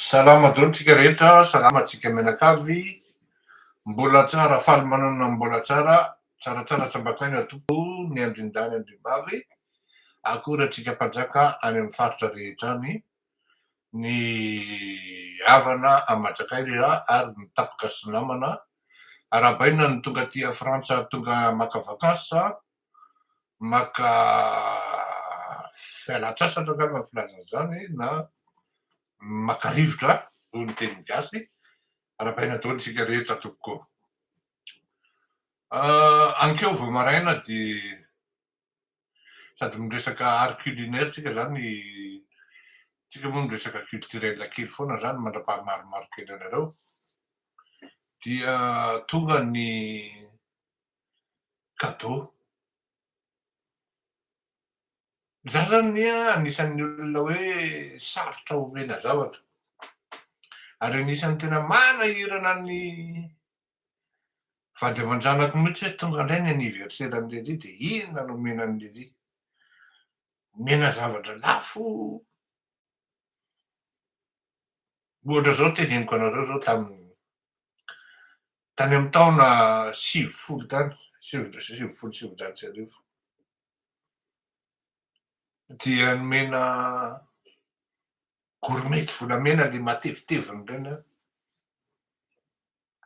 Salama dolo tsika rehetra, salama tsika mianakavy, mbola tsara faly manana mbola tsara, tsaratsara tsambakaina tompo ny andrindahy ny andrimbavy, akory atsika mpanjaka any amin'ny faritra rehetra any, ny havana aman-tsakay rehetra ary ny tapaka sy namana, arahabaina ny tonga aty Frantsa tonga maka vacances, maka fialan-tsasatra angamba ny filazana izany na maka rivotra hoy ny teny gasy, arabaina daholo isika rehetra tompoko ô. Ankeo vao maraina dia sady miresaka art culinaire tsika zany, tsika moa miresaka culturel kely foana zany mandrapaha maromaro kely anareo, dia tonga ny Gadot. Izaho izany anie anisan'ny olona hoe sarotra omena zavatra. Ary anisan'ny tena manahirana ny vady aman-janako mihitsy hoe tonga indray ny anniversaire an'i lery dia inona no omena an'i lery. Omena zavatra lafo. Ohatra izao teneniko anareo izao tamin'ny Tany amin'ny taona sivifolo tany, sivifolo sy sivinjato sy arivo, dia nomena gourmette volamena ilay mateviteviny ireny aho.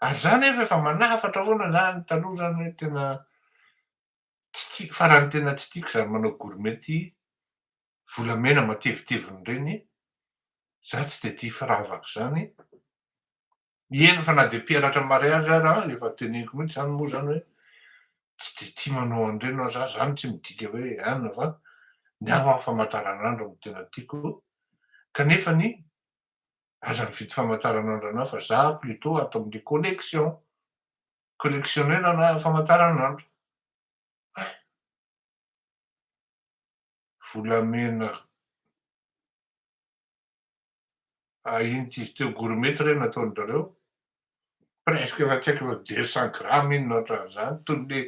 Ary izaho anefa efa manafatra foana izany, taloha izany hoe tena tsy tiako, faran'ny tena tsy tiako izany manao gourmette volamena mateviteviny ireny, izaho tsy dia tia firavaka izany. Eny fa na dia mpianatra mariage ary an, efa teneniko mihitsy zany moa zany hoe tsy dia tia manao an'ireny aho za, zany tsy midika hoe an fa ny ahy an famataranandro no tena tiako kanefa ny aza mividy famataranandro anah fa za plutot ato amin'ny collection, collectionner ana famataranandro. Hay. Volamena. Ah iny t'izy teo gourmet ty re nataon drareo? Presque efa tsy haiko efa deux cent grammes iny na otran'izany toy ny le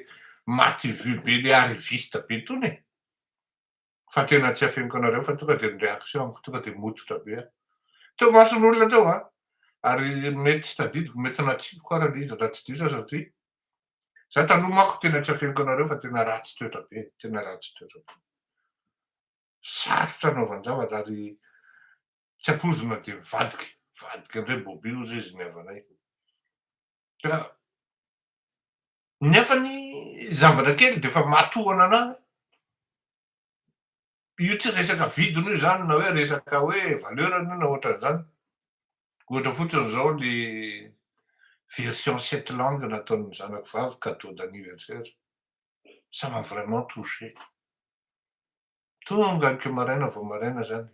maty vue be le arriviste be tony e! Fa tena tsy afeniko anareo fa tonga de ny réaction-ko tonga de mototra be aho. Teo mason'olona teo an! Ary mety tsy tadidiko, mety natsipiko ara le izy raha tsy diso aho satria za taloha manko tena tsy afeniko anareo fa tena ratsy toetra be e! Tena ratsy toetra be. sarotra anaovan-javatra ary tsy ampoizina dia mivadika, mivadika indray bobby ozy izy ny havanay. Ka nefa ny zavatra kely dia efa matohana anà. Io tsy resaka vidiny io izany na hoe resaka hoe valeur-ny io na ohatran'izany. Ohatra fotsiny izao ny version sept langues nataon'ny zanako vavy cadeau d'anniversaire. Ça m'a vraiment touché. Tonga aky maraina vao maraina zany.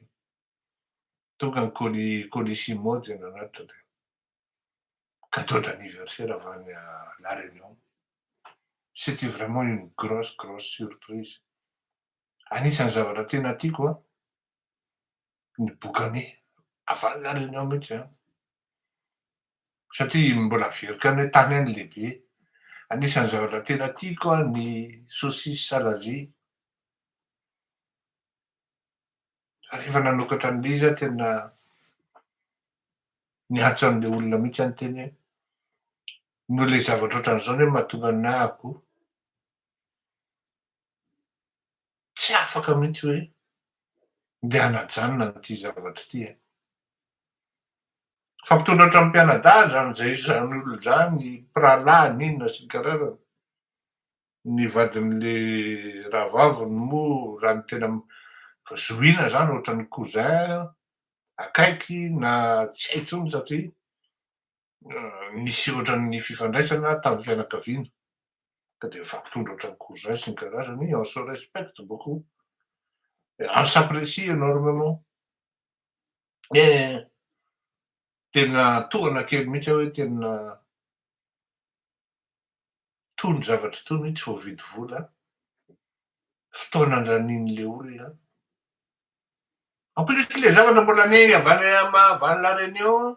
Tonga ny colis colissimo dia nanatitra dia cadeau d'anniversaire avant ny la réunion. C'etait vraiment une grosse grosse surprise. Anisan'ny zavatra tena tiako an, ny bokany avalona any anao mihitsy an! satria mbola averiko any hoe tany any lehibe anisan'ny zavatra tena tiako an ny saucisse salazi rehefa nanokatra an'le izy aho tena niantso an'le olona mihitsy aho niteny hoe noho le zavatra ohatran'izao ny hoe mahatonga ny nahako tsy afaka mihitsy hoe ndeha hanajanona an'ity zavatra ity e! Fa mpitondra hatramin'ny mpianadahy izany izay izany olona izany, mpirahalahy n'inona sy ny kararany. Ny vadin'ilay rahavaviny moa raha ny tena zohiana izany ohatran'ny cousin akaiky na tsy hay intsony satria nisy ohatran'ny fifandraisana tamin'ny fianakaviana ka dia nifampitondra ohatran'ny cousin sy ny karazany, on se respecte beaucoup et on s'apprecie enormement. Mais tena tohana kely mihitsy aho hoe tena itony zavatra itony tsy voavidy vola, fotoana andranian'ilay olona. En plus ilay zavatra mbola anie avy any Maha avy any La Réunion,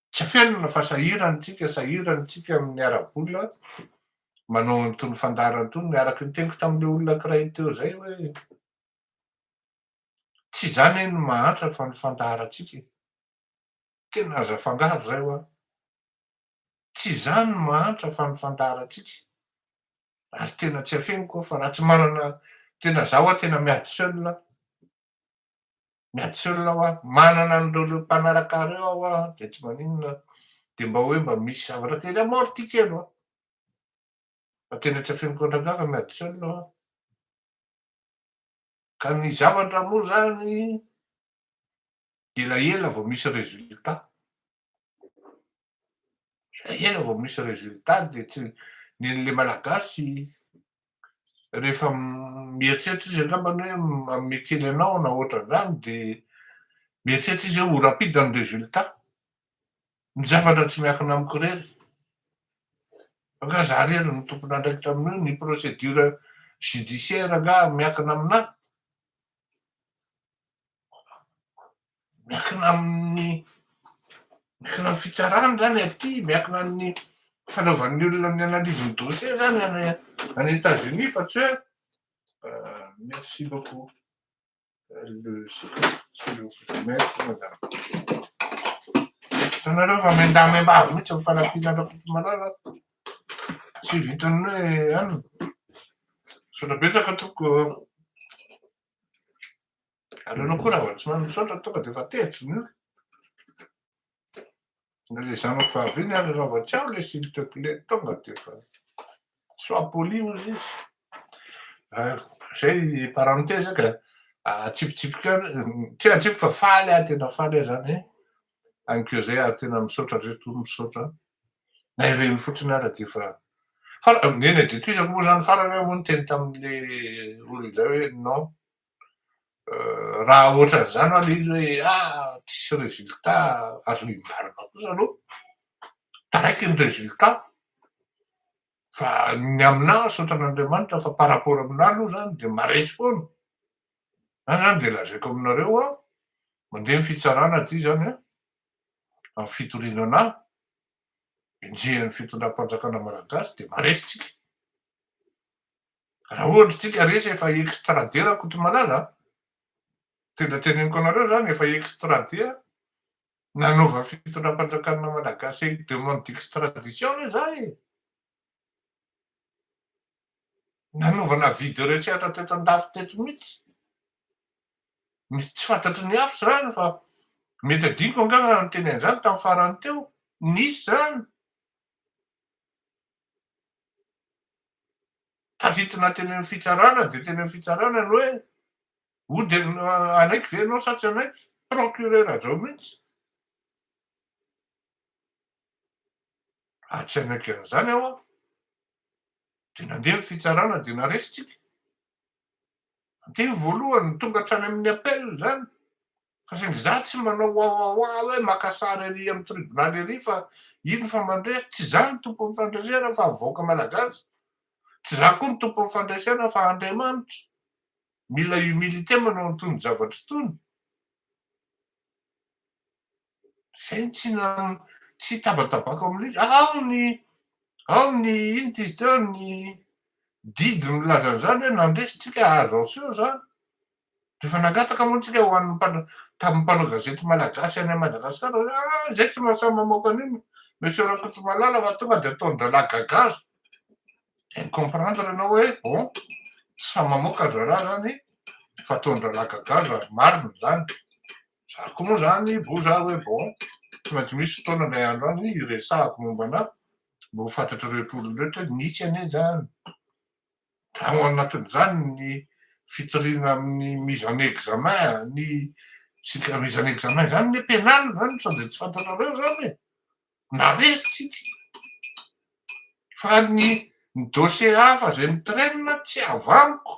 Tsy felona fa sahirana isika, sahirana isika amin'ny ara-bola manao an'itony fandaharana itony, araka ny teniko tamin'ilay olona ankiray teo izay hoe, tsy izany anie no mahantra fa ny fandaharantsika e! tena aza afangaro izay hoa, tsy izany no mahantra fa ny fandaharantsika, ary tena tsy afeniko aho fa raha tsy manana, tena za hoa tena miady seul aho. ny antsoina hoa manana an'ireo ireo mpanaraka ireo aho hoa dia tsy maninona dia mba hoe mba misy zavatra kely amorty ity kely hoa fa tena tsy afeniko an-dRangahy fa miady tsy olona hoa ka ny zavatra moa izany dia elaela vao misy résultat Ela vao misy résultat dia tsy ny an'ilay malagasy rehefa mieritreritra izy angamba ny hoe manome kely anao na ohatran'izany dia mieritreritra izy hoe ho rapide ny résultat. Ny zavatra tsy miankina amiko irery. Angaha izaho irery no tompon'andraikitra amin'io, ny procédure judiciaire angaha miankina aminahy. miankina amin'ny miankina amin'ny fitsarana zany aty, miankina amin'ny fanaovan'ny olona ny analyse ny dossier zany any any Etats Unis fa tsy hoe merci beaucoup hitanareo fa miandà miambavy mihitsy ny fanampiana Rakotomalala tsy vitan'ny hoe any misaotra betsaka tompoko Ary ianao koa Ravatsomamy misaotra tonga dia efa tetsy ny ora. Na le zanako fahaviany ary Ravatsiaho le s'il te plaît tonga dia efa sois poli hozy izy. Izay parenthèse ka atsipitsipika tsy atsipika fa faly aho tena faly aho zany ankeo zay ary tena misaotra reto misaotra na ireny fotsiny ara dia efa fa neny aditoizako moa zany farany aho moa niteny tamin'le olona izay hoe non Raha ohatran'izany ho'a ilay izy hoe ah tsisy résultat azo hibarina kosa aloha taraiky ny résultat fa ny aminà misaotra an'Andriamanitra fa par rapport aminà aloha izany dia maretsy foana, zany izany dia lazaiko aminareo ho'a mandeha ny fitsarana aty izany an, amin'ny fitoriana anà, enjehin'ny fitondram-panjakana malagasy dia maretsy tsika. Raha ohatra tsika resy efa extrader Rakotomalala a! Tena teneniko anareo zany efa extrader nanaovan'ny fitondram-panjakana Malagasy demande d'extradition anie za e! Nanaovana avis de recherche teto an-dafy teto mihitsy. Misy tsy fantatry ny hafa zany fa mety adinoko angaha raha niteny an'izany tamin'ny farany teo. Nisy zany. Taditina teny amin'ny fitsarana dia teny amin'ny fitsarana ny hoe oh dia hanaiky ve ianao sa tsy hanaiky? Procureur Rajao mihitsy. Raha tsy hanaiky an'izany aho aho dia nandeha ny fitsarana dia naresitsika. Nandeha ny voalohany, tonga hatrany amin'ny appel izany. Fa saingy za tsy manao wawawa hoe maka sary ery am tribunal ery fa ino fa mandresy, tsy za ny tompon'ny fandresena fa ny vahoaka malagasy, tsy za koa ny tompon'ny fandresena fa Andriamanitra, mila humilité manao an'itony zavatra itony, zay no tsy tsy hitabatabako aminy loatra, ao ny ao ny ino ty izy teo ny didy milaza an'izany hoe nandresy tsika azo aseho zany, Rehefa nangataka moa tsika ho an'ny tamin'ny mpanao gazety malagasy any Madagasikara hoe ah izay tsy mahasahy mamoaka an'io monsieur Rakotomalala fa tonga dia ataon-drahalahy gagazo. Dia mi-comprendre ianao hoe bon tsy sahy mamoaka ry rahalahy izany fa ataon-drahalahy gagazo ary marina izany. Za koa moa izany bo za hoe bon tsy maintsy misy fotoana ilay andro any hiresahako momba anà mba ho fantatr'ireo rehetra hoe nisy anie izany. Ao anatin'izany ny fitoriana amin'ny mise en examen, ny tsika mise en examen izany anie pénal izany sao dia tsy fantatrareo izany e! na resy tsika fa ny ny dossier hafa izay mitraîne tsy avy amiko.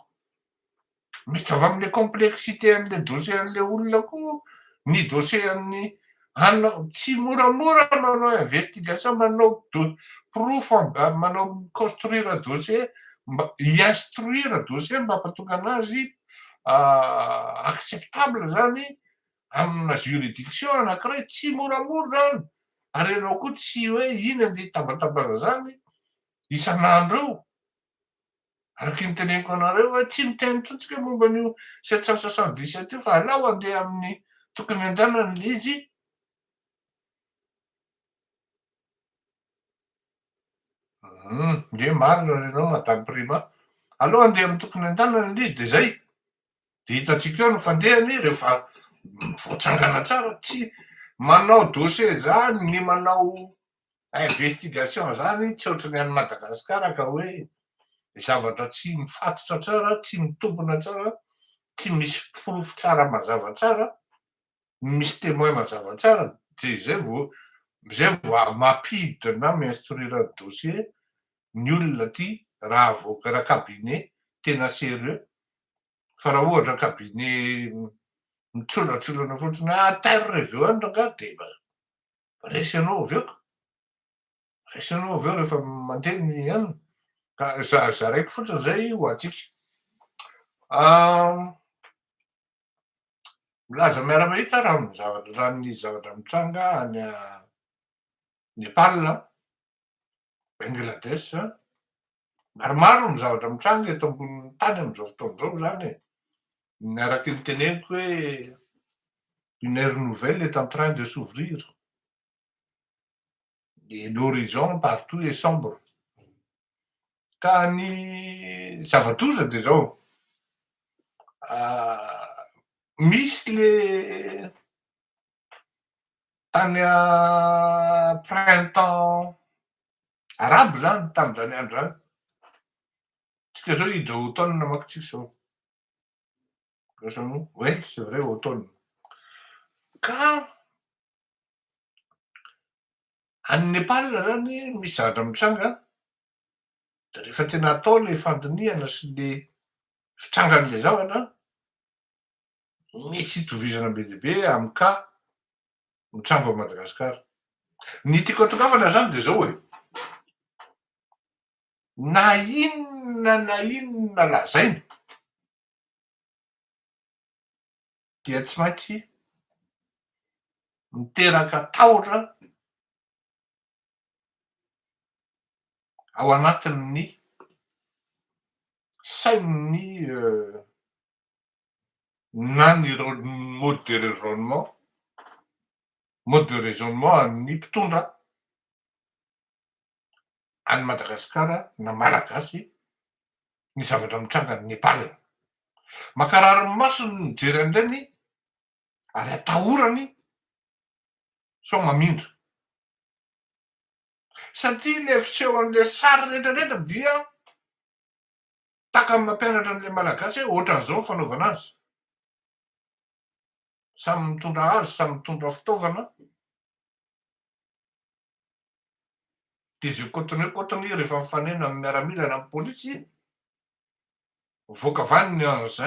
Miditra avy amin'ilay complexité an'ilay dossier an'ilay olona koa ny dossier an'ny anao tsy moramora manao investigation manao porofo manao construire dossier mba instruire dossier mba hampatonga anazy acceptable zany amina juridiction anankiray tsy moramora zany ary ianao koa tsy hoe iny andeha hitambatambana zany isan'andro eo Araka ny teneniko anareo hoe tsy miteny intsony tsika momba an'io sept cent soixante dix sept io fa alao andeha amin'ny tokony andehanany le izy. Nge marina ny anao madame Prima. Alao andeha amin'ny tokony andehanany le izy de zay. De hitantsika eo ny fandehany rehefa voatsangana tsara tsy manao dossier zany ny manao investigation zany tsy ohatry ny any Madagascar ka hoe zavatra tsy mifatotra tsara, tsy mitombina tsara, tsy misy porofo tsara mazava tsara, misy temoin mazava tsara dia zay vao zay vao mampiditra na mi-instruire ny dossier ny olona aty raha avoaka raha cabinet tena serieux fa raha ohatra cabinet mitsolatsolana fotsiny hoe à terre reveo any rangahy dia resy anao avy eo ka, resy anao avy eo rehefa mandeha ny anona, ka za zaraiko fotsiny zay ho antsika. Milaza miara-mahita raha ny zavatra raha ny zavatra mitranga any Nepal an, Bangladesh, maromaro ny zavatra mitranga eto ambonin'ny tany amin'izao fotoana izao izany e. Ny araka ny teneniko hoe une ère nouvelle est en train de s'ouvrir et l'horizon partout est sombre. Ka ny zava-doza dia izao, misy le Tany printemps arabe izany, tamin'izany andro izany. Tsika izao hiditra automne manko tsika izao. Voalohany, oui, c'est vrai, automne. Ka any Nepal izany misy zavatra mitranga, dia rehefa tena atao ilay fandinihana sy ilay fitrangan'ilay zavatra, Misy itovizana be dia be amin'ny cas mitranga ao Madagasikara. Ny tiako atongavana izany dia izao e, na inona na inona lazaina dia tsy maintsy miteraka tahotra ao anatin'ny sain'ny na ny mode de raisonnement, mode de raisonnement an'ny mpitondra an'i Madagasikara na Malagasy ny zavatra mitranga any Nepal. Mankarary ny masony ny mijery an'ireny ary atahorany sao mamindra. Satria ilay fisehon'ilay sary rehetra rehetra dia Taka amina mpianatra an'ilay Malagasy hoe ohatran'izao ny fanaovana azy. Samy mitondra hazo, samy mitondra fitaovana. Dia izay cotonné cotonné rehefa mifanena amin'ny miaramila na amin'ny polisy, mivoaka vaniny ny engins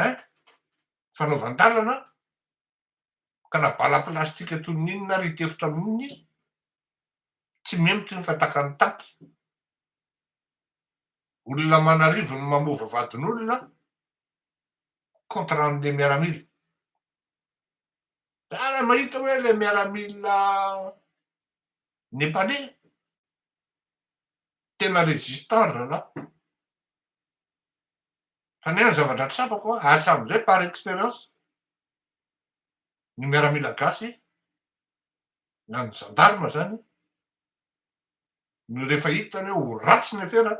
fanaovan-dalana, ka na bala plastika toy ny inona ary hitefitra amin'iny, tsy mihemotry ny fatakan'ny taty. Olona aman'arivony no mamova vadin'olona, contrat an'ilay miaramila. Za raha mahita hoe ilay miaramila Nepaley, tena résistant ry rahalahy. Fa ny ahy ny zavatra tsapako, hatramin'izay par expérience, ny miaramila gasy na ny zandarma zany no refa hitany hoe ho ratsy ny afera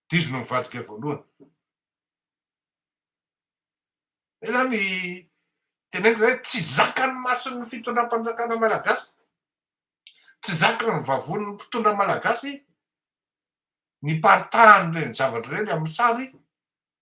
de izy no mivadika voalohany zay zany teneniko zay tsy zakan'ny mason'ny fitondram-panjakana malagasy tsy zakan'ny vavonin'ny mpitondra malagasy ny paritahan'ireny zavatra ireny amin'ny sary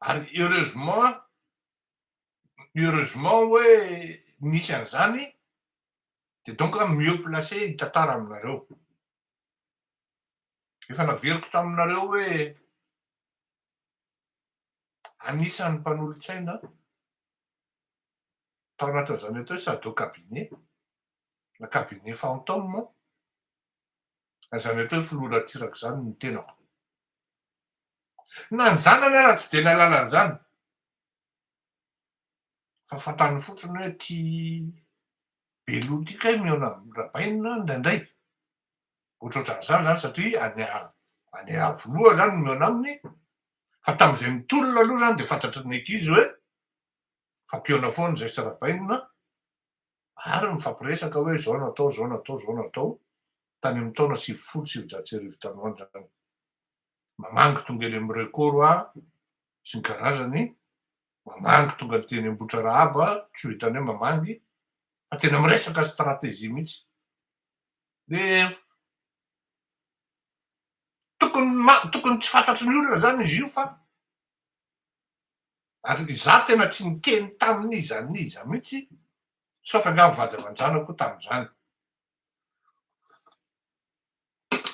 ary heureusement heureusement hoe misy an'izany dia donc aho mieux placé hitantara aminareo. Efa naveriko taminareo hoe anisan'ny mpanolotsaina tao anatin'izany atao hoe Sado Cabinet na Cabinet Fantôme Raha izany hatao hoe filoha Ratsiraka izany ny tenako. Na ny zanany ara tsy dia nahalala an'izany. Fa fantany fotsiny hoe ity be loha ity kay mihaona amin'i Rabaina indraindray. Ohatrohatran'izany izany satria any any Iavoloha izany no mihaona aminy. Fa tamin'izay nitolona aloha izany dia fantatry ny ankizy hoe fa mpihaona foana izahay sy Rabaina ary mifampiresaka hoe izao natao, izao natao, izao natao, tany amin'ny taona sivifolo sy sivinjato sy arivo tany ho any izany. Mamangy tonga eny amin'ny Record aho sy ny karazany, mamangy tonga teny Ambohitrarahaba, tsy ho hitanay mamangy, fa tena miresaka stratégie mihitsy. Dia tokony tokony tsy fantatry ny olona izany izy io fa ary ry za tena tsy niteny tamin'iza n'iza mihitsy sauf angaha ny vady aman-janako tamin'izany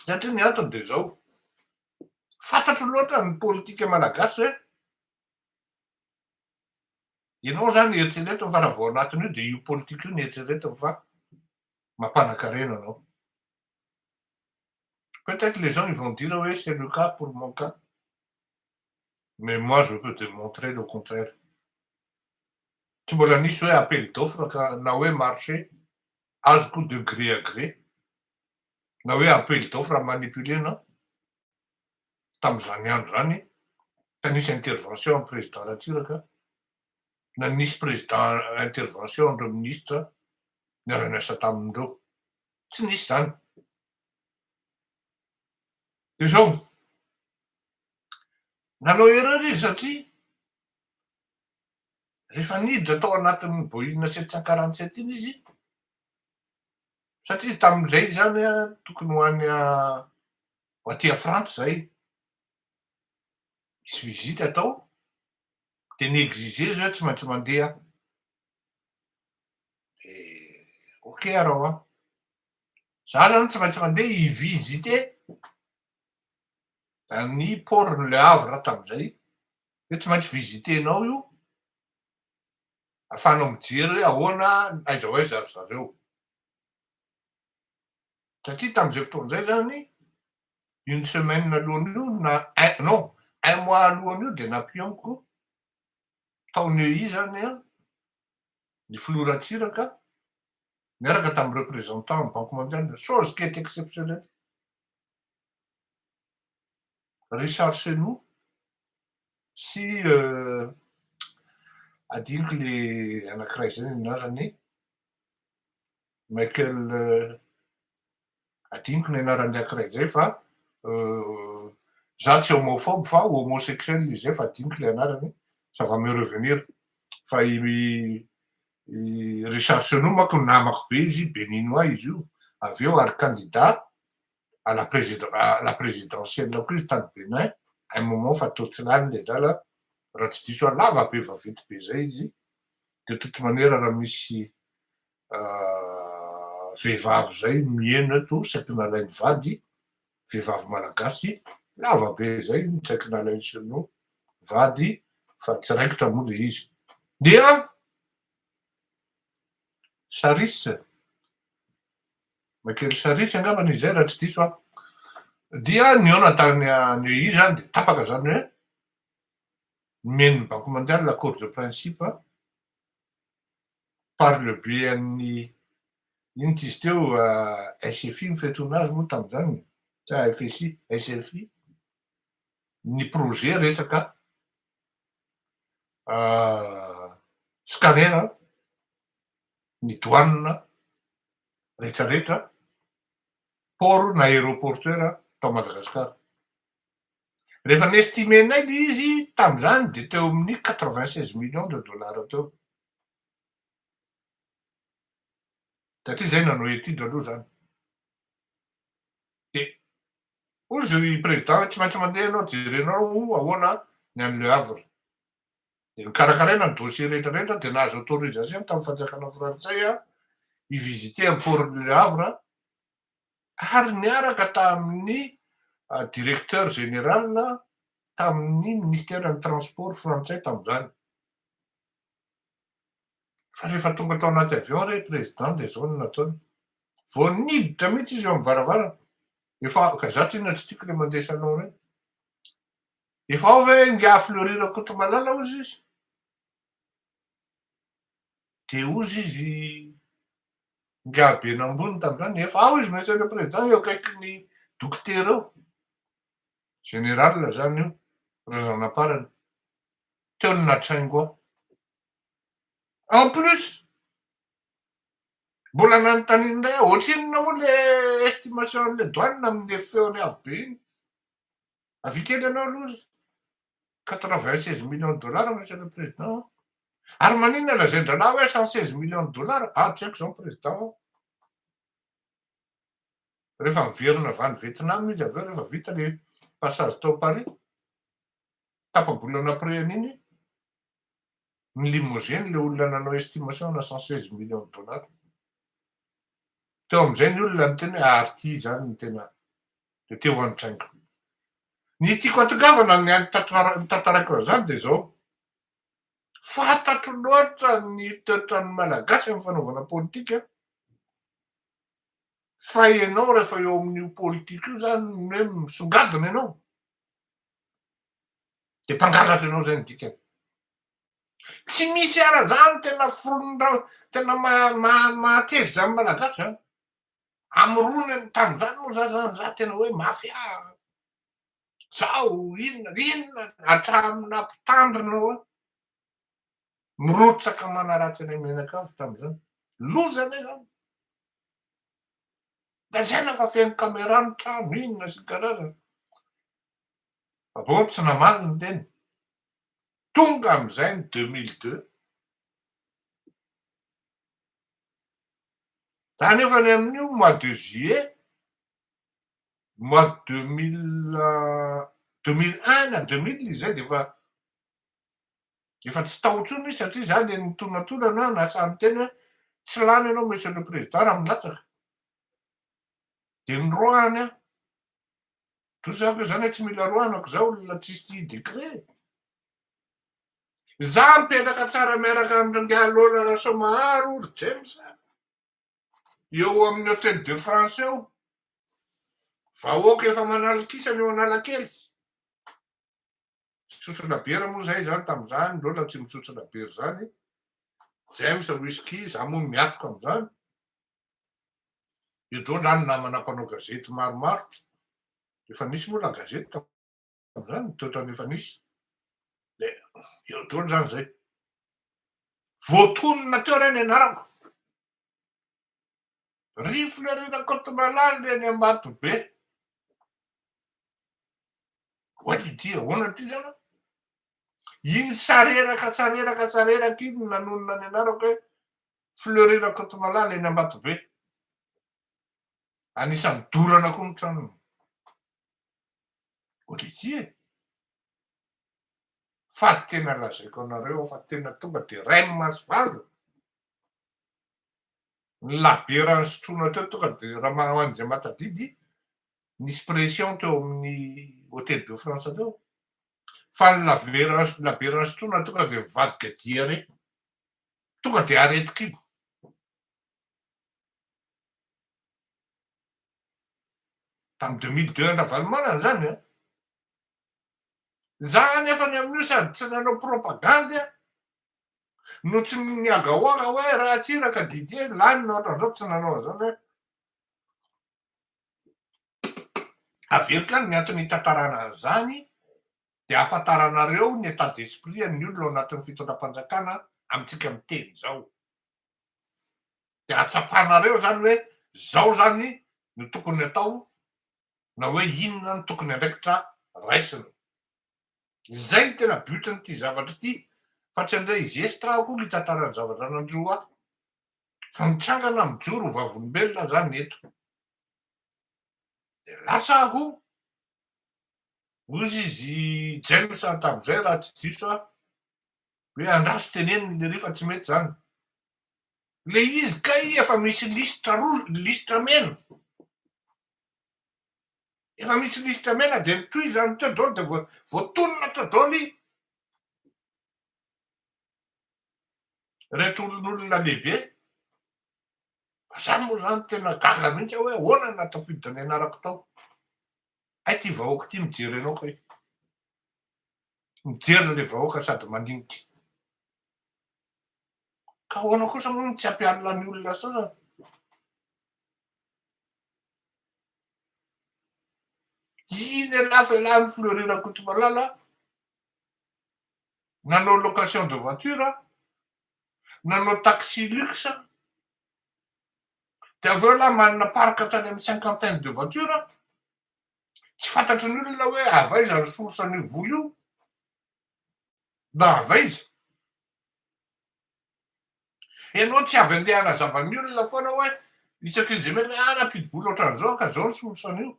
satria ny antony dia izao, fantatro loatra ny politika malagasy hoe ianao zany eritreretiny fa raha vao anatin'io dia io politika io no eritreretiny fa mampanakarena anao. Peut-être les gens ils vont dire hoe c'est le cas pour mon cas. mais moi je peux te montrer le contraire, tsy mbola nisy hoe appel d'offre ka na hoe marché azoko de gré à gré na hoe appel d'offre à manipuler non, tamin'izany andro izany ka nisy intervention an'i président Ratsiraka na nisy président intervention an'ireo ministra niara-niasa taminy ireo, tsy nisy izany. Dia izao, Nanao erreur izy satria rehefa niditra tao anatin'ny boina sept cent quarante sept iny izy satria izy tamin'izay izany tokony ho any ho aty à frantsa izay misy visite atao dia ni-exiger izy hoe tsy maintsy mandeha aho dia ok arao an! za zany tsy maintsy mandeha hi-visiter Any port ny Le Havre tamin'izay, hoe tsy maintsy visiter-nao io, afahanao mijery hoe ahoana, aiza ho aiza ry zareo. Satria tamin'izay fotoana izay izany, une semaine alohan'io na un, non, un mois alohan'io dia nampihaoniko tao Neuilly izany an, ny filoha Ratsiraka, niaraka tamin'ny représentant ny Banque Mondiale, chose qui est exceptionnelle. Richard Chenoux sy adinoko le anankiray zay ny anarany Michael adinoko ny anarany anankiray zay fa za tsy homophobe fa homosexuel izy zay fa adinoko le anarany ça va me revenir fa i Richard Chenoux manko namako be izy béninois izy io avy eo ary candidat à la président à la présidentielle koa izy tany Bénin un moment fa toa tsy lany le drala raha tsy diso aho lava be vaventy be zay izy de toute manière raha misy vehivavy zay miheno eto saika nalainy vady vehivavy malagasy lava be zay saika nalainy sino vady fa tsy raikitra moa le izy dia saris Makely Saritsy angambany izy izay raha tsy diso aho. Dia nihaona tany Neuilly izany dia tapaka izany hoe nomen'ny Banque Mondiale l'accord de principe par le biais-n'ny inona t'izy teo SFI ny fiantsoana azy moa tamin'izany sa FSI, SFI ny projet resaka scanner ny douane rehetra rehetra, port na aeroportuaire tao Madagascar. Rehefa ni-estimer-nay le izy tamin'izany dia teo amin'ny quatre vingt seize millions de dollars teo, satria izahay nanao étude aloha izany. Dia hoy izy i président hoe tsy maintsy mandeha ianao, jerenao ahoana ny any Le Havre. dia nokarakaraina ny dossier rehetra rehetra dia nahazo autorisation tamin'ny fanjakana frantsay aho hi-visiter an'i port du Havre ary niaraka tamin'ny directeur général tamin'ny ministère-n'ny transport frantsay tamin'izany fa rehefa tonga tao anaty avion re président dia izao no nataony vao niditra mihitsy izy eo amin'ny varavarana efa ka za tena tsy tiako ilay mandeha salon ireny Efa ao ve ingahy Fleury Rakotomalala hozy izy? Dia hozy izy ingahy Benambony tamin'izany, efa ao izy Monsieur le Président eo akaikin'ny dokotera eo, général izany io, razan'amparany, teo no nahatraingo ahy. En plus, mbola nanontaniana indray aho, ohatrinona moa ilay estimation an'ilay douane amin'ny feony avo be iny? Avia kely ianao aloha ry 96 millions de dollars monsieur le président an! Ary maninona lazain-drahalahy hoe 116 millions de dollars? Aho tsy haiko izany président an! Rehefa miverina avy any Vietnam izy avy eo rehefa vita ilay passage tao Paris, tapa-bolan'après an'iny, Ny limousine ilay olona nanao estimation ana cent seize millions de dollars teo amin'izay ny olona niteny hoe ary ity izany ny tena dia te ho any train-ko ny tiako atongavana ny tantaraiko an'izany dia izao fantatro loatra ny toetran'ny malagasy amin'ny fanaovana politika fa ianao rehefa eo amin'io politika io izany ny hoe misongadina ianao Dia mpangalatra ianao izay no dikany. Tsy misy ara drano tena foronondrano tena mahatezitra amin'ny malagasy zany. Amorony ny tany zany moa za zany za tena hoe mafia sao inona inona hatramin'ny mpitandrina hoe mirotsaka manaratsy anay mianakavy tamin'izany. Loza anie zany. Lazaina fa feno camera ny trano inona sy ny karazany. Bon tsy namaly ny teny. Tonga amin'izay ny deux mille deux. Za nefa ny amin'io mois de juillet mois deux mille deux mille un na deux mille izay dia efa Efa tsy tao intsony izy satria za le nitonatonana na sahy niteny hoe tsy lany ianao monsieur le président raha milatsaka. De niroahany aho. Toa zany koa zany hoe tsy mila roahana ko za olona tsisy tia décret e. Za mipetraka tsara miaraka am rangahy Lola Rasoamaharo ry James a. Eo amin'ny Hotel de France eo. Vahoaka efa manalin-kisany eo Analakely. Tsotrana bera moa zay zany tamzany lola tsy mitsotrana bera zany James whisky za moa miatoka amzany io dolo any namana mpanao gazety maromaro efa nisy moa la gazety tamzany toetrany efa nisy de eo dolo zany zay voatonona teo lay ny anarako Rifle reny Ankotonalala reny Ambatobe. Oay ity ahoana ity zany? Iny sareraka sareraka sareraka iny nanonona ny anarako hoe Fleury Rakotomalala eny Ambatobe. Anisan'ny dorana koa ny tranony. Oay ity e. Fa tena lazaiko anareo fa tena tonga dia rain'ny masoandro. ny labiera nisotroina teo tonga dia Ramanamani izay matadidy nisy pression teo amin'ny Hotel de France teo fa ny labiera labiera nisotroina tonga dia mivadika diare tonga dia areti-kibo tamin'ny 2002 an-dRavalomanana izany an za anefa ny amin'io sady tsy nanao propagandy an Notsiniany ny Agawa raha hoe ratsiraka Didier, lany ny ohatran'izao tsy nanao an'izany hoe averiko ihany ny antony hitantarana an'izany dia ahafantaranareo ny état d'esprit an'ny olona ao anatin'ny fitondram-panjakana amintsika miteny izao dia ahatsapanareo izany hoe izao izany no tokony atao na hoe inona no tokony andraikitra raisina. Izay no tena but n'ity zavatra ity fa tsy handray zestra aho akory hitantara ny zavatra nanjo ahy fa mitsangana mijoro ho vavolombelona aho zany eto de lasa aho ozy izy James tamin'izay raha tsy diso aho hoe andraso teneniny lery fa tsy mety zany le izy kay efa misy lisitra roa lisitra mena Efa misy lisitra mena dia ny tohizo any teo daholo dia voatonona teo daholo iny. Reto olon'olona lehibe. Za moa zany tena gaga mihitsy aho hoe ahoana na tafiditra ny anarako tao. Hay ty vahoaka ty mijery anao kay. Mijery le vahoaka sady mandinika. Ka ahoana kosa moa no tsy ampialina ny olona sasany. Iny anafy alahany Fleury Rakotomalala nanao location de voiture, nanao taxi luxe, dia avy eo elah manana parc tany amin'ny cinquantaine de voiture, tsy fantatry ny olona hoe avy aiza ny source an'io vola io, na avy aiza. Ianao tsy avy andeha hanazava ny olona foana hoe isaky ny izay mety hoe ah nampidi-bola ohatran'izao ka izao ny solution an'io.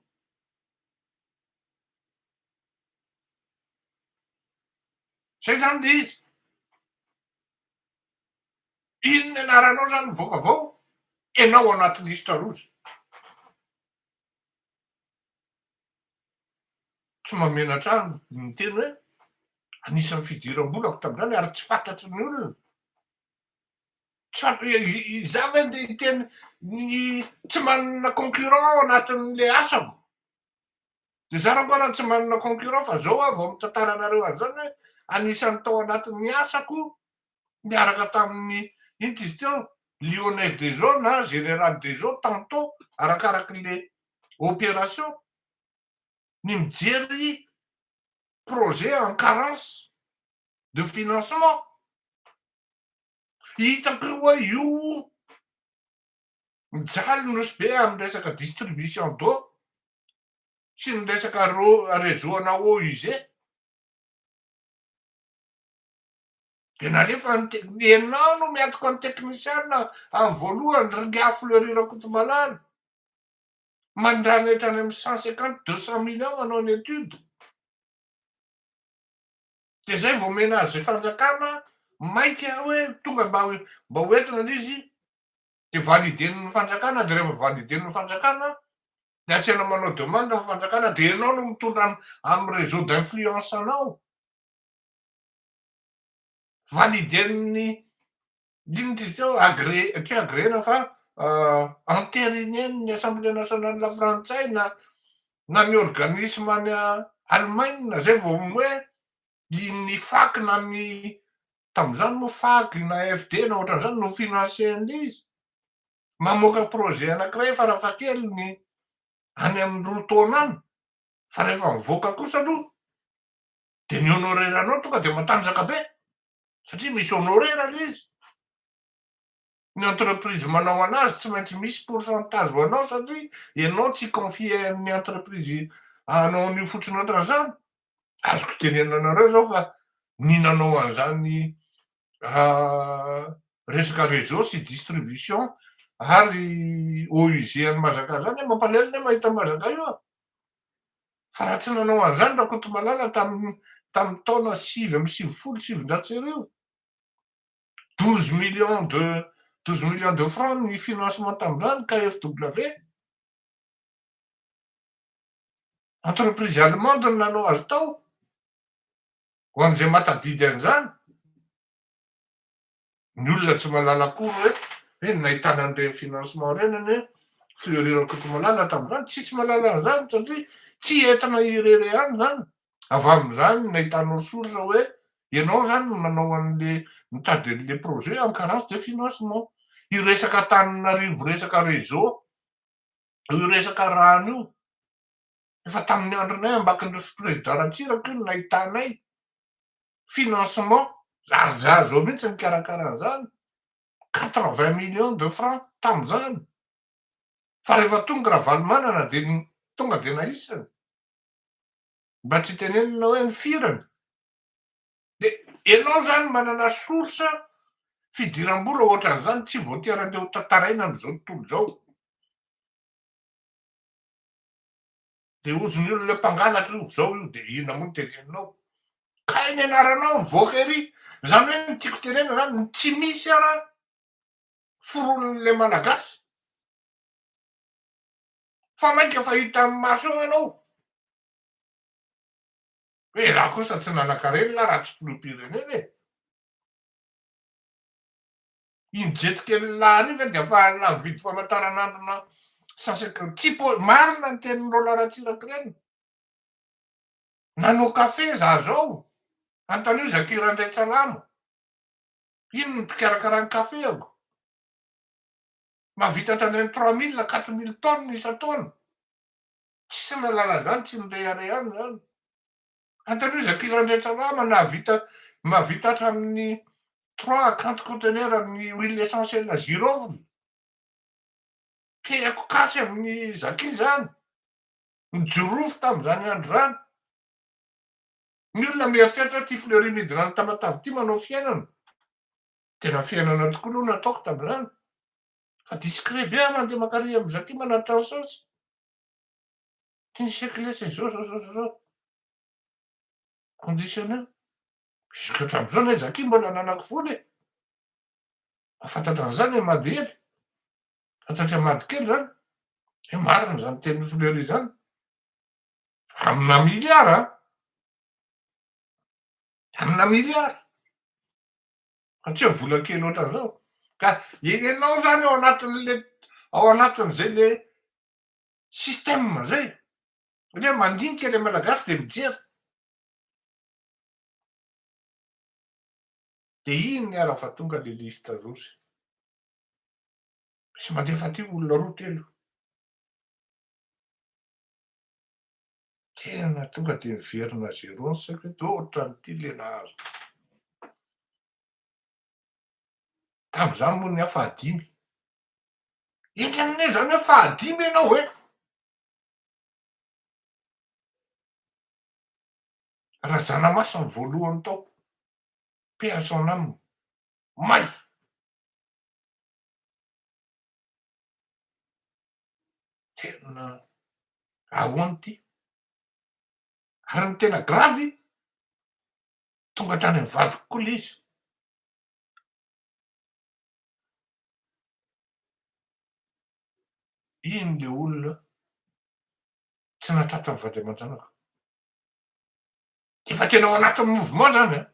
Izay izany ilay izy. Inona anaranao izany mivoaka avao? Ianao ao anaty lisitra roa izay. Tsy mahamenatra ahy ny miteny hoe anisan'ny fidiram-bolako tamin'izany ary tsy fantatry ny olona. Izaho ve ndeha hiteny ny tsy manana concurrent ao anatin'ilay asako? Dia izaho raha mbola tsy manana concurrent fa izao aho vao mitantara anareo an'izany hoe anisan'ny tao anatin'ny asako niaraka tamin'ny, inty izy teo? Lyonnaise des eaux na Générale des eaux tantôt, arakarakin'le opération. Ny mijery projet en carence de financement. Hitako io hoe io mijaly nosy be amin'ny resaka distribution d'eau sy ny resaka réseau ana eaux usées. Dia nalefa ny tek ianao no miatoka ny teknisiana amin'ny voalohany ry Ingahy Fleury Rakotomalala. Mandrana hatrany amin'ny cent cinquante, deux cent millions manao ny étude. Dia izay vao omena azy ny fanjakana maika hoe tonga mba mba ho entina ilay izy dia validen'ny fanjakana dia rehefa validen'ny fanjakana dia asiana manao demande ny fanjakana dia ianao no mitondra amin'ny réseau d'influence anao. validen'ny inona izy io agré tsy agrena fa entérinean'ny assemblée nationale frantsay na na ny organisme any Allemagne zay vao hoe ny fac na ny tamin'izany moa fac na FD na ohatran'izany no financer an'izy mamoaka projet anankiray farafahakeliny any amin'ny roa taona any fa rehefa mivoaka kosa aloha dia ny honorer anao tonga dia matanjaka be satria misy honorer le izy ny entreprise manao anazy tsy maintsy misy pourcentage ho anao satria ianao tsy confier amin'ny entreprise anao an'io fotsiny ohatran'izany azoko tenenina anareo zao fa ny nanao an'izany ah, resaka réseau sy distribution ary OUG an'i Mazaka zany mampalahelo ne mahita Mazaka io Fa raha tsy nanao an'izany Rakotomalala tamin'ny tamin'ny taona sivy amby sivifolo sy sivinjato sy arivo, douze millions de douze millions de francs ny financement tamin'izany KFW, entreprise allemande no nanao azy tao, ho an'izay mahatadidy an'izany. Ny olona tsy mahalala akory hoe hoe nahitana an'ireny financement ireny anie an, Fleury Rakotomalala tamin'izany tsisy mahalala an'izany satria tsy entina irery ihany izany, avy amin'izany nahitanao source hoe ianao izany no nanao an'le nitady an'le projet en carence de financement. Io resaka Antananarivo resaka réseau io resaka rano io, Efa tamin'ny andronay ambakin'ireo fiprezidan Ratsiraka io no nahitanay financement, ary za zao mihitsy nikarakara an'izany, quatre vingt millions de francs tamin'izany, fa rehefa tonga Ravalomanana dia tonga dia naisany, mba tsy tenenina hoe ny firany, dia ianao izany manana source fidiram-bola ohatran'izany tsy voatery andeha ho tantaraina amin'izao tontolo izao. De hozy ny olona mpangalatra io zao io de inona moa ny teneninao? Kay ny anaranao mivoaka ery zany hoe ny tiako tenena zany ny tsy misy ara foronon'le malagasy fa mainka efa hita amin'ny maso eo ianao hoe rah kosa tsy nanankarena lah raha tsy filoham-pirenena e! Iny jetikely lany iny ve dia efa alina mividy famantaranandrona sasakely? Tsy po- marina ny tenin'i Roland Ratsiraka-Reny. Nanao kafe za zao. Antanio Zaky Randriantsalama. Iny ny mpikarakara ny kafeako. Mahavita hatrany amin'ny trois mille, quatre mille tonnes isan-taona. Tsisy nalala zany, tsy nirehareha any zany. Antehirizako ilay andrian-tsalama nahavita mahavita hatramin'ny trois quante conteneurs amin'ny huile essentielle girofle. Tehako kasy amin'ny Zaki izany. Nijorofo tamin'izany andro izany. Ny olona mieritreritra ity fleury midina any Tamatave ity manao fiainana. Tena fiainana tokoa aloha no nataoko tamin'izany. Fa discret be aho mandeha mankary amin'ny Zaki manatitra ny saosy. Ty siècle lasa izao zao zao zao zao conditionner jusque hatramin'izao lay Zaki mbola ananako foana e! Mahafantatra an'izany i Mady Hery, fantatry Mady kely zany hoe marina zany tenin'i Fleury zany fa amina milliard an! amina milliard fa tsy hoe vola kely ohatran'izao ka ianao zany ao anatin'le ao anatin'izay le système zay satria mandinika le malagasy de mijery de iny ara fa tonga le liste rouge sy mandefa aty olona roa telo tena tonga de miverina zéro ny saiko eto oh ohatran'ity le nahazo tam'izany moa ny aho fahadimy Eka anie zany hoe fahadimy ianao hoe. Razanamasina voalohany tao, paix à son âme, may. Tena ahoana ity? Ary ny tena gravy, tonga hatrany amin'ny vadiko koa ilay izy. Iny ilay olona tsy nahatratra ny vady aman-janaka. Efa tena ao anatin'ny mouvement izany an!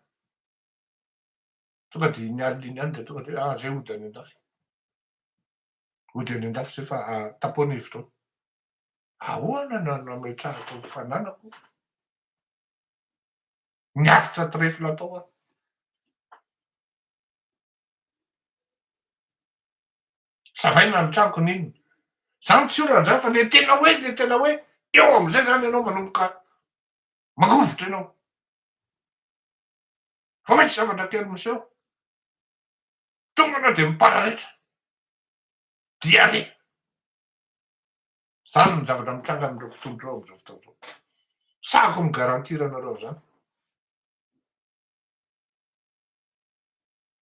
Tonga dia iny alina iny ihany dia tonga dia ah, izay hody any an-dafy. Hody any an-dafy izay fa tampoha ny hevi-taona. Ahoana no nametrahako ny fananako ny avotra trèfle atao aho? Savaina ny tranoko n'inona. Zany tsy olana zany fa le tena hoe le tena hoe eo amizay zany ianao manomboka mangovitra ianao. Fa misy zavatra kely miseho. Tonga anao de mipararetra. Diarrhée. Zany ny zavatra mitranga amindreo mpitondra ireo amizao fotoana izao. Sahako mi garantir anareo zany.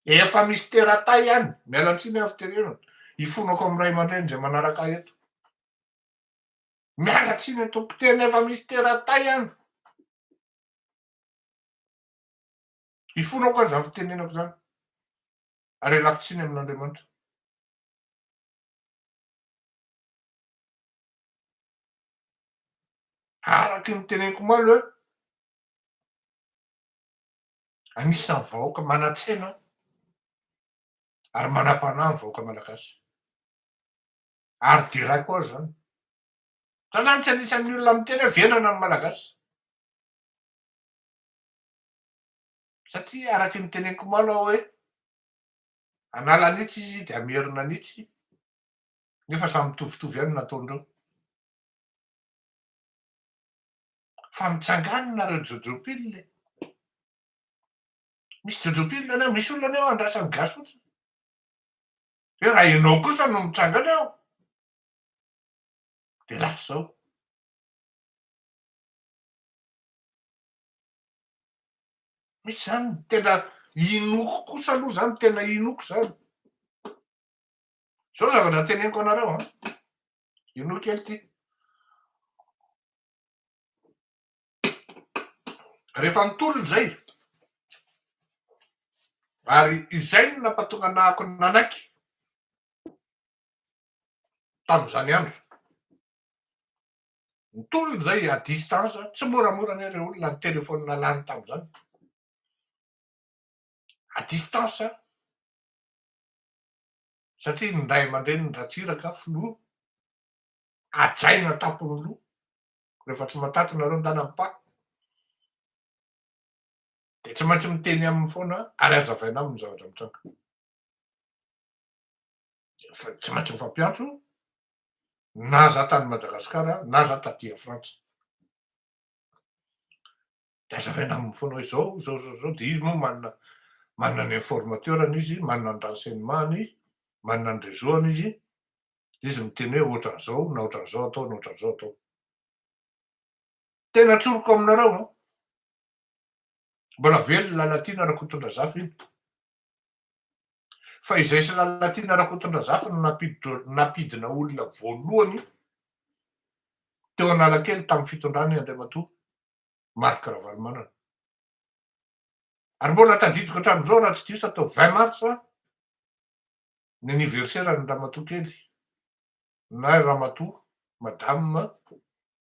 Efa misy teratay any, miala tsiny aho fitenenana, hifonako amin'ny ray aman-dreny izay manaraka ahy eto. Miala tsiny eto mpiteny efa misy teratay any. Hifonako izany fitenenako izany. Ary ialako tsiny amin'Andriamanitra. Araka ny teneniko malo hoe Anisan'ny vahoaka manan-tsaina ary manam-panahy ny vahoaka malagasy. Ary deraiko azy izany. Za zany tsy anisan'ny olona miteny hoe vendrana ny malagasy. Satria araka ny teneniko omaly aho hoe hanala an'itsy izy dia hamerina an'itsy nefa samy mitovitovy ihany ny nataondreo. fa mitsangàna nareo jojo pile e. Misy jojo pile any ao, misy olona any ao andrasan'ny gasy fotsiny. Hoe raha ianao kosa no mitranga any ao, dia lasa zao. Misy zany tena inoko kosa aloha zany, tena inoko zany. Zao zavatra teneniko anareo an. Inoa kely ty. Rehefa nitolona izay, ary izay no nampatonga anahako nanaiky tamin'izany andro. Nitolona izay à distance, tsy moramora anie ireo olona ny téléphone lany tamin'izany. À distance, satria ny ray aman-drenin'i Ratsiraka, filoha, hajaina tampony roa rehefa tsy mataty nareo ndana mipaka de tsy maintsy miteny aminy foana ary azavaina aminy zavatra mitranga tsy maintsy mifampiantso na za tany Madagasikara na za taty a Frantsa. de azavaina aminy fonao izao izao izao izao de izy moa manana manana ny informateur-ny izy manana ny renseignement-ny izy manana ny réseau-ny izy de izy miteny hoe ohatran'izao na ohatran'izao atao na ohatran'izao atao tena tsoriko aminareo an mbola velona Lalatiana Rakotondrazafy iny fa izay sy Lalatiana Rakotondrazafy no nampiditr- nampidina olona voalohany teo Analakely tamin'ny fitondrany Andriamatoa Marc Ravalomanana. Ary mbola tadidiko hatramin'izao raha tsy diso aho tao vingt mars ny anniversaire an'i ramatoa kely na ramatoa madame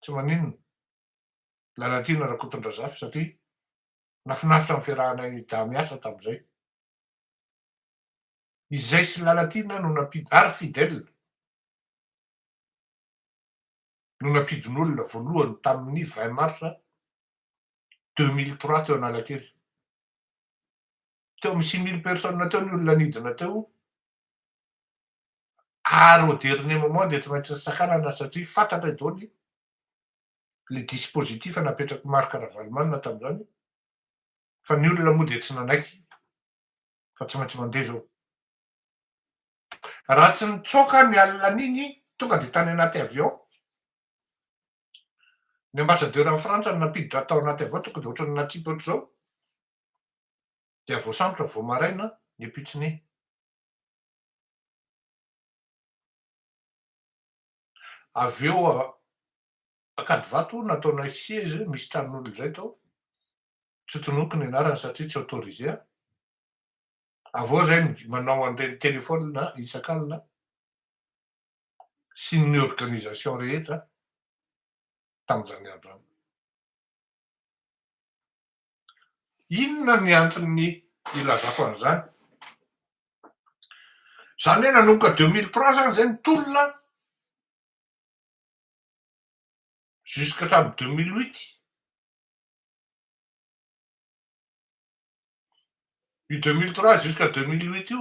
tsy maninona Lalatiana Rakotondrazafy satria nafinaritra ny fiarahanay dahy miasa tamin'izay. Izay sy Lalatiana no nampidi ary Fidèle. no nampidin'olona voalohany tamin'ny vingt mars deux mille trois teo Analakely. Teo amin'ny six mille personnes teo ny olona nidina teo ary au dernier moment dia tsy maintsy nisakanana satria fantatra daholo le dispositif napetrak'i Marc Ravalomanana tamin'izany fa ny olona moa dia tsy nanaiky fa tsy maintsy mandeha izao. Raha tsy nitsoaka ny alina n'iny tonga dia tany anaty avion ny ambassadeur any Frantsa no nampiditra tao anaty avion tonga dia ohatran'ny natsipy ohatr'izao dia voasambotra vao maraina ny pitsiny. Avy eo Ankadivato nataonay siège misy tranon'olona izay tao, tsy tononiko ny anarany satria tsy autorisé aho, Avô zay manao an'ireny telefonina isak'alina sy ny organisation rehetra tamin'izany andro zany. Inona ny anton'ny ilazako an'izany? Zany hoe nanomboka deux mille trois zany zay ny tolona jusqu'hatramin'ny deux mille huit. Io deux mille trois jusqu'à deux mille huit io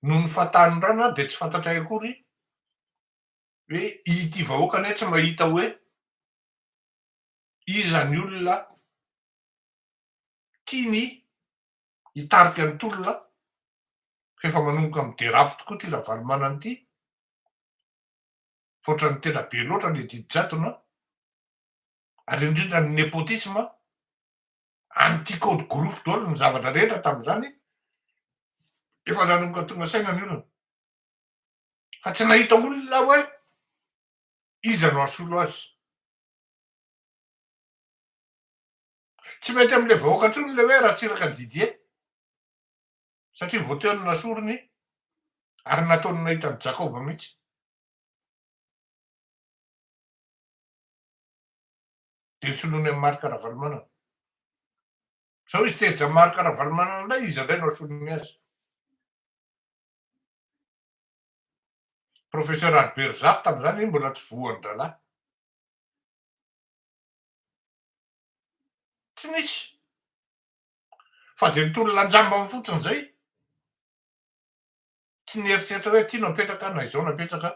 noho ny fatan'ny rano aho dia tsy fantatray akory hoe ity vahoaka anie tsy mahita hoe iza ny olona tiany hitarika ny tolona f'efa manomboka miderape tokoa ity Ravalomanana ity, hoatran'ny tena be loatra ilay didy jadona, ary indrindra ny nepotisme anti code groupe daholo ny zavatra rehetra tamin'izany efa nanomboka tonga saina ny olona fa tsy nahita olona hoe iza no asolo azy tsy mety amle vahoaka ntsony le hoe ratsiraka didie satria voteo ny nasorony ary nataony nahita ny jakoba mihitsy Dia soloiny an'i Marc Ravalomanana. Sao izy tezitra Marc Ravalomanana indray, iza indray no asoloiny azy. Professeur Albert Zafy tamin'izany mbola tsy voan-drahalahy. Tsy nisy. Fa dia nitolona an-jambany fotsiny izay. Tsy nieritreritra hoe aty napetraka na izao napetraka.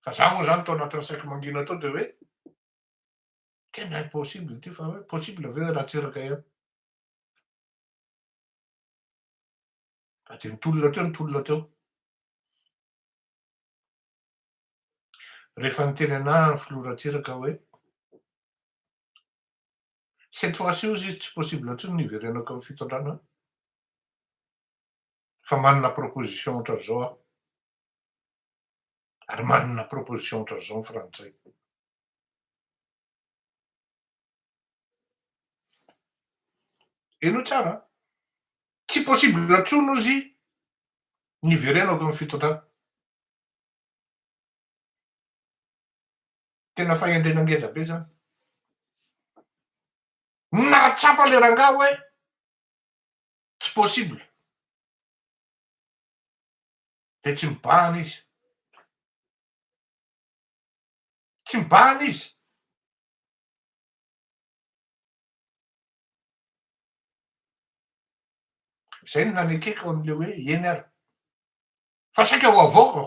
Fa za moa zany tao anatin'ny saiko mangina tao de hoe tena impossible ity fa hoe possible ve hoe Ratsiraka ihany. Fa de nitolona teo nitolona teo. Rehefa niteny anah ny filoha Ratsiraka hoe cette fois ci ozy izy tsy possible intsony ny hiverenako amin'ny fitondrana fa manana proposition ohatran'izao aho. Ary manana proposition ohatran'izao ny frantsay. Henoy tsara an! Tsy possible intsony ozy ny hiverenako eo amin'ny fitondrana. Tena fahendrena ngeza be zany. Nahatsapa le rangahy hoe tsy possible. dia tsy mibahana izy. Tsy mibahana izy. Izay no nanekeko an'ilay hoe eny ary. Fa saika ho avoakako.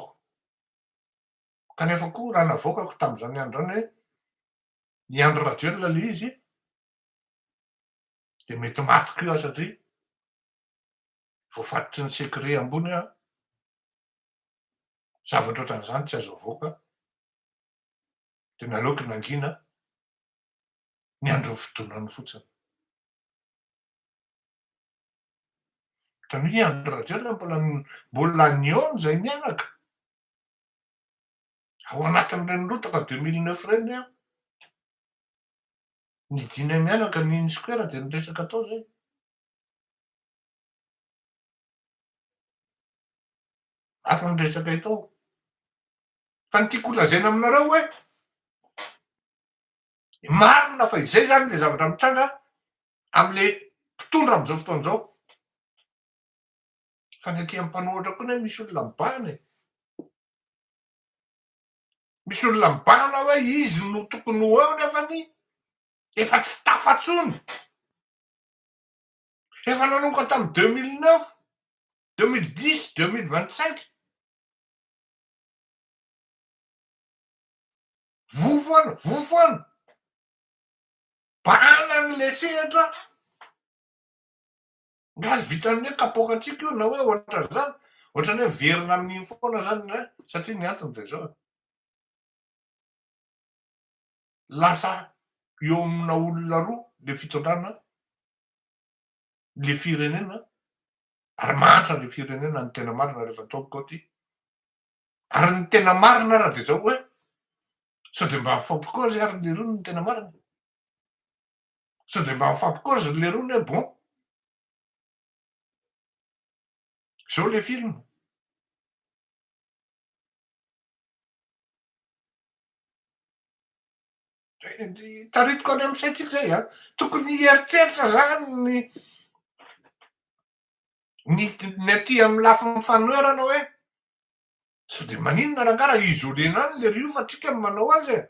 Kanefa koa raha navoakako tamin'izany andro izany hoe i Andry Rajoelina ilay izy dia mety maty koa aho satria Voafatotry ny secret ambony an! Zavatra ohatran'izany tsy azo avoaka an! Dia naleoko nangina ny andron'ny fidonany fotsiny. Ohatran'ny hoe i Andry Rajoelina mbola mbola nihaona izay mianaka. Ao anatin'ireny rotaka deux mille neuf ireny ny ahy. Nidinay mianaka ny Unisquare dia ny resaka tao izay. Hafa ny resaka eto. Fa ny tiako holazaina aminareo hoe marina fa izay zany le zavatra mitranga amle mpitondra amizao fotoana zao. Fa ny aty am mpanohatra koa ne misy olona mibahana e. Misy olona mibahana hoe izy no tokony ho eo nefany efa tsy tafa tsony. Efa nanomboka tamin'ny deux mille neuf, deux mille dix, deux mille vingt cinq. Voa foana, voa foana. Bana ny le sehatra. Nga azo vitan'ny hoe kapoaka antsika io na hoe ohatra zany. Ohatrany hoe miverina amin'iny foana zany satria ny antony dia zao. lasa eo amina olona roa le fitondrana le firenena ary mahantra le firenena ny tena marina rehefa atao ny kaoty ary ny tena marina ary de zao hoe sao de mba mifampikozy ary le roa ny tena marina sao de mba mifampikozy le roa ny bon zao le film Taritiko any amin'ny saintsika zay an, tokony hieritreritra zany ny ny ny aty amin'ny lafiny fanoherana hoe sao dia maninona rangah raha isoler-na any le riofa tsika no manao azy e.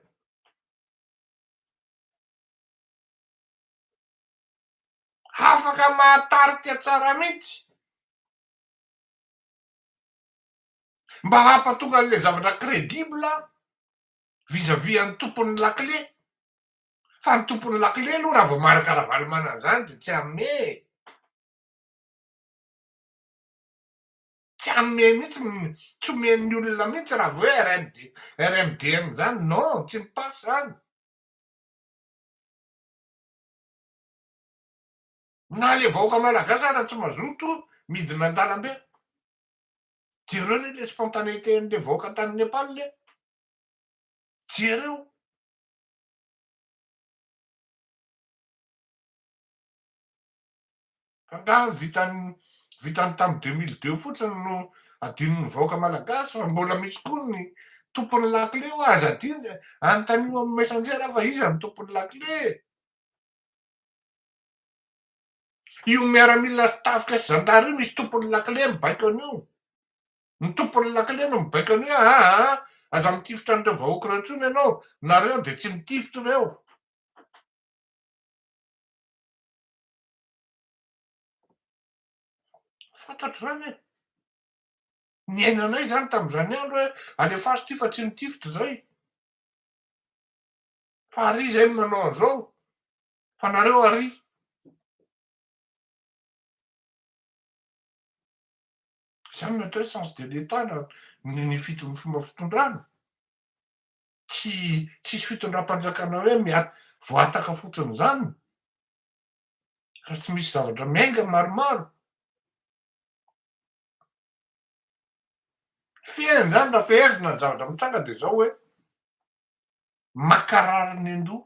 Afaka mahatarika tsara mihitsy. mba hampatonga an'ilay zavatra credible vis à vis an'ny tompon'ny lakile fa ny tompon'ny lakile aloha raha vao maraka Ravalomanana izany dia tsy hanome e! tsy hanome mihitsy m- tsy omen'ny olona mihitsy raha vao hoe RMD RMDM izany non tsy mipasy izany na le vahoaka malagasy aza tsy mazoto midina an-dalambe Jereo anie le spontanéité an'le vahoaka tany Nepal le. Jereo. Angaha vitan'ny vitan'ny tamin'ny deux mille deux fotsiny no adinon'ny vahoaka malagasy fa mbola misy koa ny tompon'ny lakile hoa aza adino e. Anontanio amin'ny messenger aho fa iza no tompon'ny lakile e. Io miaramila sy tafika sy zandary io misy tompon'ny lakile mibaiko an'io. Ny tompon'ny lakile no mibaiko an'io hoe aa aza mitifitra an'ireo vahoaka ireo intsony ianao, nareo dia tsy mitifitra ireo. Fantatro izany e. Niainanay izany tamin'izany andro hoe alefaso ity fa tsy mitifitra izay. Fa ary iza e no manao an'izao? Fa nareo ary. Zany ny atao hoe sens de l'Etat na ny fidin'ny fomba fitondrana. Tsy tsisy fitondram-panjakana hoe miat- voataka fotsiny zany raha tsy misy zavatra miainga maromaro. Fehiny zany raha fehezina ny zavatra mitranga de zao hoe, makarary ny an-doha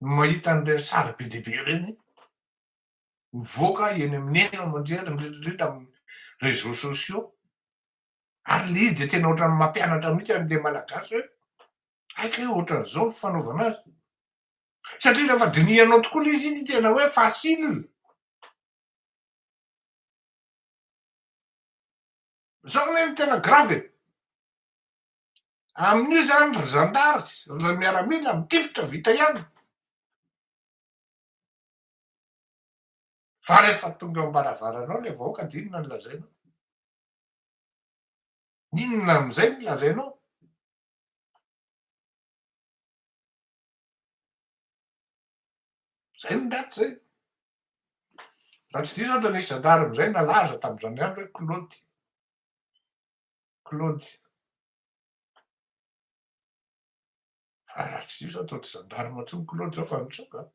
no mahita an'ireny sary be dia be ireny mivoaka eny amin'ny eny aman-jery, indrindra indrindra amin'ny réseaux sociaux, ary ilay izy dia tena ohatran'ny mampianatra mihitsy an'ilay Malagasy hoe hay kay ohatran'izao ny fanaovana azy, satria rehefa dinihanao tokoa ilay izy, iny no tena hoe facile, izao anie no tena grave e. Amin'io izany ry zandary, ry miaramila mitifitra vita ihany. Fa rehefa tonga eo am-baravaranao ilay vahoaka dia inona no lazainao? Inona amin'izay no lazainao? Izay ny daty izay. Raha tsy diso aho dia nisy zandary amin'izay nalaza tamin'izany andro hoe Claude. Claude. Fa raha tsy izao atao tsy zandarma intsony Claude izao fa nitsoaka an!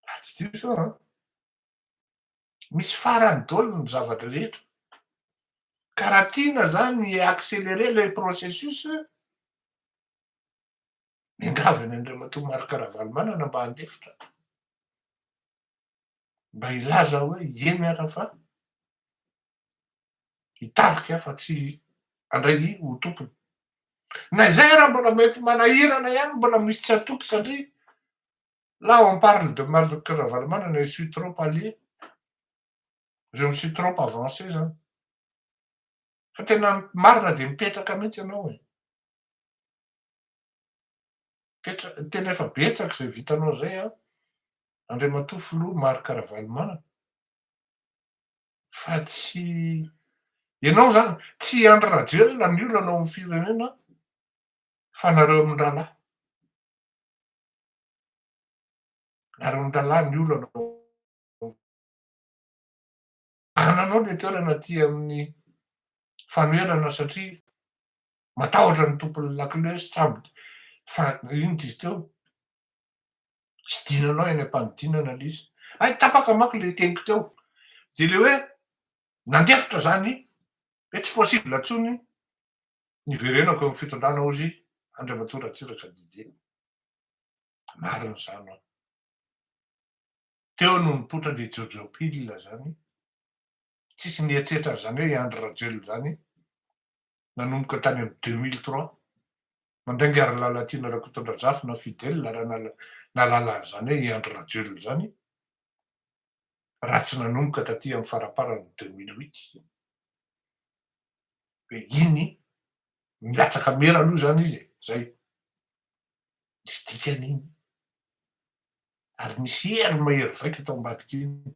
Raha tsy diso aho an! Misy farany daholo ny zavatra rehetra. Ka raha tiana izany hi-accélérer ilay processus, miangavy an'i Andriamatoa Marc Ravalomanana mba handefitra. mba hilaza hoe ie miala fa hitarika aho fa tsy handray ny ho tompony. Na izay ara mbola mety manahirana ihany mbola misy tsy hatoky satria là on parle de Marc Ravalomanana et je suis trop allé je me suis trop avancé zany fa tena marina dia mipetraka mihitsy ianao e. Tena efa betsaka izay vitanao izay an! Andriamatoa Filoha Marc Ravalomanana fa tsy ianao izany, tsy i Andry Rajoelina ny olana ao amin'ny firenena fa nareo amin-drahalahy, nareo amin-drahalahy ny olana ao amin'ny firenena. Anananao ilay toerana aty amin'ny fanoherana satria matahotra ny tompon'ny lakile sy sambo fa inona izy teo? Tsy dinanao eny am-panidinana ilay izy. Hay tapaka manko ilay teniko teo. Dia ilay hoe nandefitra izany hoe tsy possible intsony ny hiverenako eo amin'ny fitondrana hoy izy Andriamatoa Ratsiraka Didier. Marina izany. Teo no nipoitra an-dry Jojo Pille zany, tsisy nieritreritra an'izany hoe i Andry Rajoelina zany, nanomboka tany amin'ny deux mille trois, mandainga ry Lalatiana Rakotondrazafy na Fidèle raha nahalala an'izany hoe i Andry Rajoelina zany, raha tsy nanomboka taty amin'ny faramparan'ny deux mille huit, hoe iny milatsaka mera aloha zany izy e, zay, nisy dikany iny. ary misy hery mahery vaika tao ambadika iny.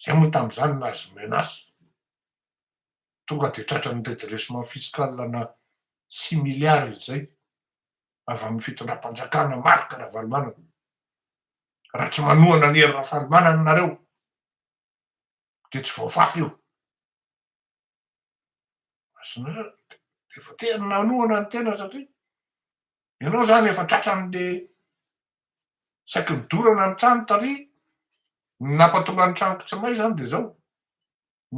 Zay moa tamin'izany nahazo menace. Tonga dia tratran'ny redressement fiscal ana six milliards izay avy amin'ny fitondram-panjakana Marc Ravalomanana. Raha tsy manohana an'i Hery Rafalimanana nareo dia tsy voafafy io. Azonareo efa tena nanohana ny tena satria ianao izany efa tratran'le saiky nidorana ny trano tary ny nampatonga ny tranoko tsy may izany dia izao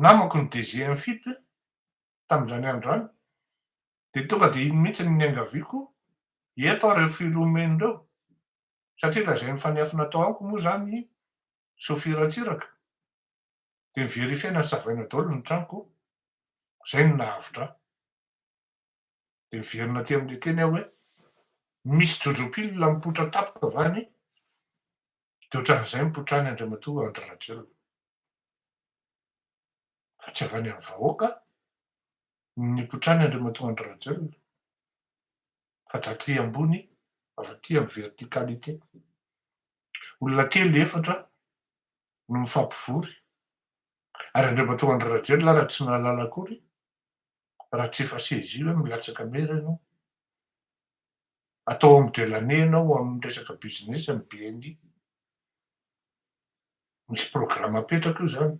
namako ny DG MFIP tamin'izany andro izany dia tonga dia iny mihitsy ny niangaviako eto aho ireo filomeny ireo satria lazain'ny fanefy natao amiko moa izany soafiratsiraka dia niverifier-na nosavaina daholo ny tranoko, izay no nahavotra ahy. Dia niverina aty amin'ilay teny aho hoe, misy jojo-pilina mipoitra tampoka va anie? Dia ohatran'izay mipoitra any Andriamatoa Andry Rajoelina. Fa tsy avy any amin'ny vahoaka no nipoitra any Andriamatoa Andry Rajoelina, fa d'aty ambony, avy aty amin'ny verticalité. Olona telo, efatra, no mifampivory. Ary andreo matoa andry rajoelina ary tsy nahalala akory raha tsy efa saisie hoe milatsaka mera ianao. Atao homme de l'année ianao amin'ny resaka business amin'ny bni. Misy programme apetraka io izany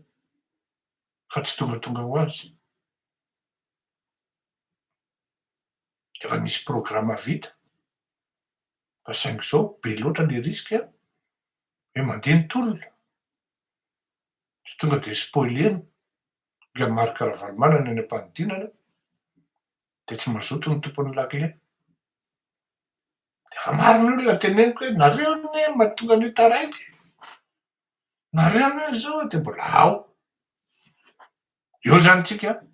fa tsy tongatonga ho azy. Efa misy programme vita. fa saingy izao be loatra le risque an! hoe mandeha ny tolona de tonga de spoiler-ny ilay Marc Ravalomanana any am-panidinana de tsy mazoto ny tompon'ny lakile. Efa maro ny olona teneniko hoe nareo anie no mahatonga an'io taraiky e! nareo anie no izao e! de mbola ao. Eo zany tsika an!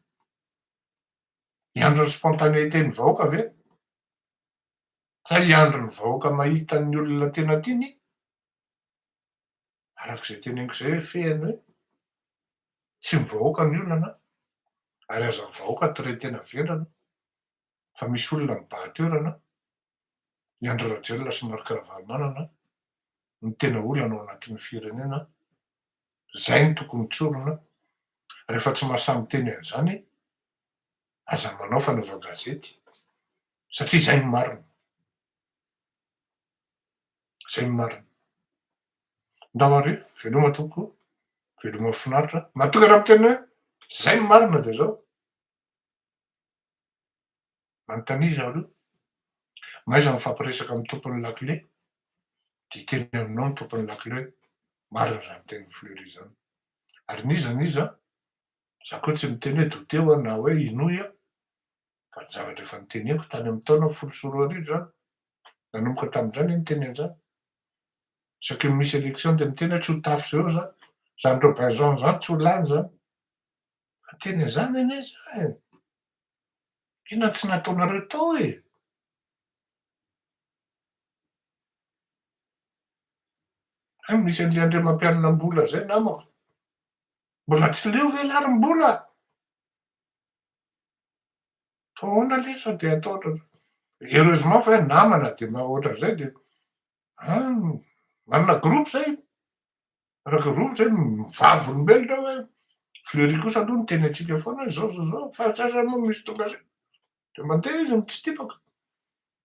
Ny andron'ny spontanéité-n'ny vahoaka ve? Ka hiandry ny vahoaka mahita ny olona tena tiany? Araka izay teneniko izay hoe fehiny hoe tsy ny vahoaka ny olana ary aza ny vahoaka tren-tena vendrana fa misy olona mibaha toerana i Andry Rajoelina sy Marc Ravalomanana no tena olana ao anatin'ny firenena izay no tokony tsorina rehefa tsy mahasahy miteny an'izany aza manao fanaovan-gazety Satria zay no marina. Zay no marina. Ndao are, veloma tompoko, veloma finaritra, manokana miteny hoe zay no marina de zao. Manontania za aloha, mahaiza mifampiresaka amin'ny tompon'ny lakile, de hiteny aminao ny tompon'ny lakile hoe marina zany tenin'i Fleury zany. Ary n'iza n'iza, za koa tsy miteny hoe douter aho na hoe hinoy aho, fa ny zavatra efa noteneniko tany amin'ny taona folo sy roa arivo izany, nanomboka tamin'izany aho niteny an'izany, isaky ny misy élection dia miteny aho tsy ho tafo zéro za, izany Robinson izany tsy ho lany izany, efa niteny an'izany anie za e, inona no tsy nataonareo tao e? Hay misy an'ilay Andriamampianina-mbola izay namako, mbola tsy leo ve larim-bola? Taona lisa dia ataotra heureusement fa hoe namana dia mba ohatran'izay dia an, manana groupe zay, manana groupe zay vavolombelona hoe Fleury kosa aloha niteny antsika foana hoe zao zao zao fa tsy aza moa misy tonga zay dia mandeha izy mitsitipaka